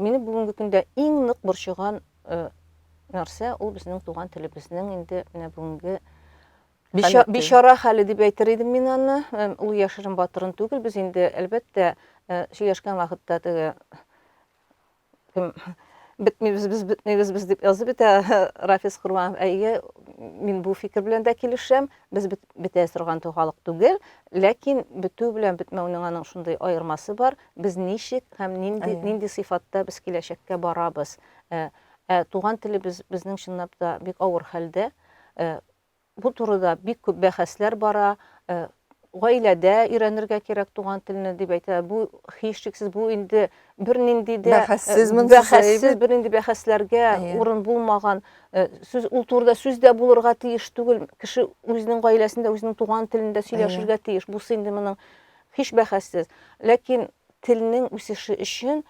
Мине бүгенге көндә иң нык борчыган э, нәрсә ул безнең туган телебезнең инде менә бүгенге бишара хәле дип әйтер идем мин аны э, ул яшерен батырын түгел без инде әлбәттә э, сөйләшкән вакытта теге кем бетмибез без бетмибез без дип язып бетә рафис корбанов әйе мин бу фикер белән дә килешәм без бетә торган халык түгел ләкин бетү белән бетмәүнең аның шундый аермасы бар без ничек һәм нинди нинди сыйфатта без киләчәккә барабыз ә, ә туган телебез безнең чынлап та бик авыр хәлдә ә, Бу турыда бик күп бәхәсләр бара. Гаиләдә өйрәнергә кирәк туган телне дип әйтә. Бу һичшиксез бу инде бернинди дә бәхәссез, бәхәссез бернинди бәхәсләргә урын булмаган. Сүз ул турыда сүз дә булырга тиеш түгел. Кеше үзенең гаиләсендә үзенең туган телендә сөйләшергә тиеш. Бусы инде моның һич бәхәссез. Ләкин телнең үсеше өчен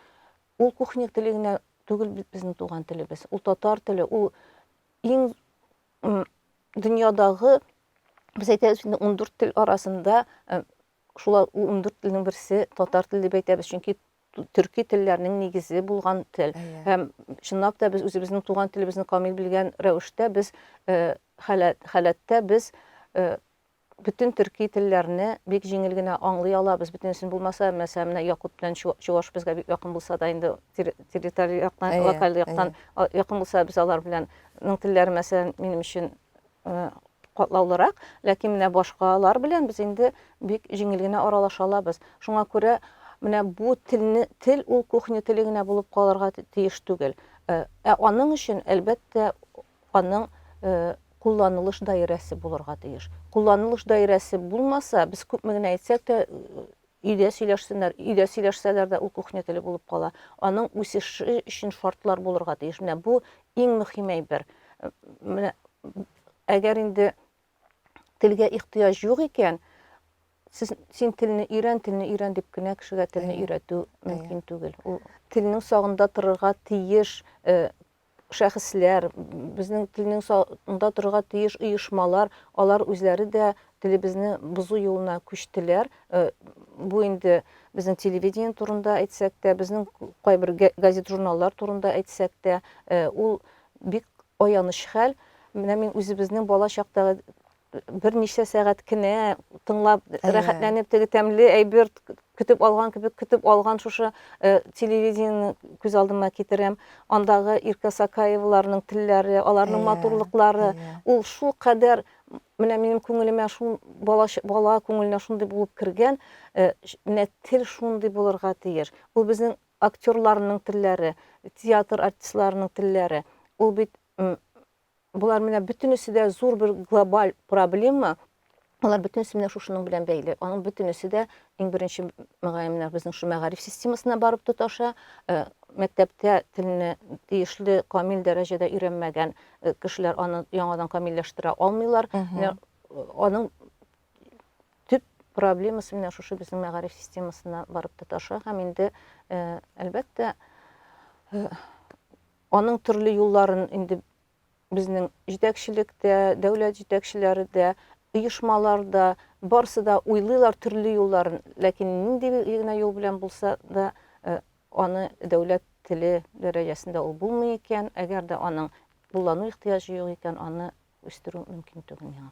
ул кухня теле генә түгел безнең туган телебез. Ул татар теле, ул иң дөньядагы без әйтәбез инде ундүрт тел арасында шул ундүрт телнең берсе татар теле дип әйтәбез чөнки төрки телләрнең нигезе булган тел һәм чынлап та без үзебезнең туган телебезне камил белгән рәвештә без халәттә без Бөтен төрки телләрне бик җиңел генә аңлый алабыз, бөтенесен булмаса, мәсәлән, менә якут белән чуваш безгә бик якын булса да, инде территориаль яктан, локаль яктан якын булса, без алар белән ның телләре, мәсәлән, минем өчен катлаулырак, ләкин менә башкалар белән без инде бик җиңел генә аралаша алабыз. Шуңа күрә менә бу телне тел ул кухня теле генә булып калырга тиеш түгел. Ә аның өчен, әлбәттә, аның кулланылыш даирәсе булырга тиеш. Кулланылыш даирәсе булмаса, без күпме генә әйтсәк тә, өйдә сөйләшсеннәр, өйдә сөйләшсәләр дә ул кухня теле булып кала. Аның үсеше өчен шартлар булырга тиеш. Менә бу иң мөһим әйбер. Менә әгәр инде телгә ихтыяҗ юк икән, сез син телне өйрән, телне өйрән дип кенә кешегә телне өйрәтү мөмкин түгел. Ул телнең сагында торырга тиеш, э, шәхесләр, безнең телнең сагында торырга тиеш оешмалар, алар үзләре дә телебезне бозу юлына күчтеләр. Э, бу инде безнең телевидение турында әйтсәк тә, безнең кайбер газет-журналлар турында әйтсәк тә, э, ул бик аяныч хәл. Менә мин үзебезнең бала чактагы берничә сәгать кенә тыңлап рәхәтләнеп теге тәмле әйбер көтеп алган кебек көтеп алган шушы э, телевидениене күз алдыма китерәм андагы иркә сакаеваларның телләре аларның yeah, матурлыклары yeah. ул шул кадәр менә минем күңелемә шул бала, бала күңеленә шундый булып кергән э, менә тел шундый булырга тиеш ул безнең актерларның телләре театр артистларының телләре ул бит Болар менә бөтенесе дә зур бер глобаль проблема. Алар бөтенесе менә шушының белән бәйле. Аның бөтенесе дә иң беренче мөгаен менә безнең шу мәгариф системасына барып тоташа. Э, мәктәптә телне тиешле камил дәрәҗәдә өйрәнмәгән э, кешеләр аны яңадан камилләштерә алмыйлар. Менә э, аның төп проблемасы менә шушы безнең мәгариф системасына барып тоташа һәм инде әлбәттә Аның төрле юлларын инде безнең җитәкчелек тә, дәүләт җитәкчеләре дә, оешмалар да, барысы да уйлыйлар төрле юлларын, ләкин нинди генә юл белән булса да аны дәүләт теле дәрәҗәсендә ул булмый икән, әгәр дә аның куллану ихтыяҗы юк икән, аны үстерү мөмкин түгел миңа.